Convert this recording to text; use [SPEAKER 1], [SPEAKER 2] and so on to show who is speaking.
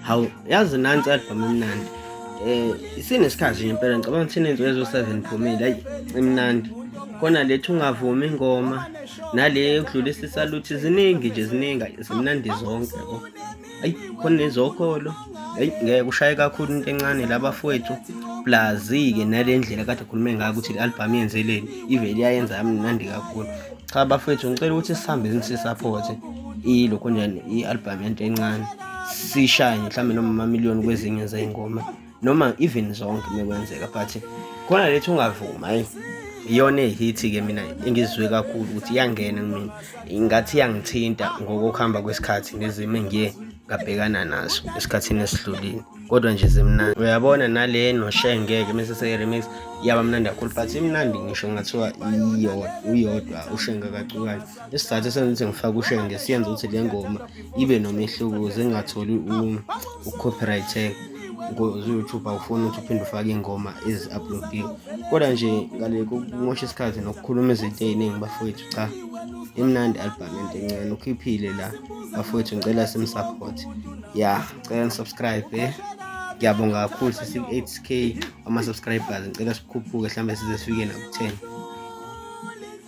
[SPEAKER 1] Hawu yazi nansi album imnandi. Eh isinesikhathi nje impela ngicabanga ukuthi inenzo yezo 7 phumile ayi imnandi. Kona lethi ungavumi ingoma nale ukudlulisa isaluthi ziningi nje ziningi zimnandi zonke yabo. Ayi khona nezokholo. Ayi ngeke ushaye kakhulu into encane labafowethu. Blazike nalendlela kade khulume ngayo ukuthi le album yenzeleni ivele yayenza yamnandi kakhulu. Cha bafowethu ngicela ukuthi sihambe sisaphothe ilokho nje i-album yento encane. sishaye mhlawumbe noma amamiliyoni kwezinye zey'ngoma noma even zonke mekwenzeka but khona lethi ungavuma eyi iyona ehithi-ke mina engizizwe kakhulu ukuthi iyangena kumina ingathi iyangithinta ngokuhamba kwesikhathi nezimo engiye ngabhekana nazo esikhathini esidlulile kodwa nje zimnandi uyabona nale noshengeke mese seyiremix yaba mnandi kakhulu but imnandi ngisho ngathiwa uyodwa ushenge kacukane isizathu esenza ukuthi ngifake ushenge siyenza ukuthi le ngoma ibe nomehluko ukuze ingatholi u-copyright tag ngoze uyoutube awufuni ukuthi uphinde ufake iy'ngoma ezi-uploadiwe kodwa nje ngale kokumosha isikhathi nokukhuluma izinto ey'ningi bafowethu cha imnandi album into encane ukhiphile la bafowethu ngicela simsupport ya ngicela nisubscribe eh ngiyabonga kakhulu sisi-8k ama-subscribers ngicela sikhuphuke mhlawumbe size sifike naku-10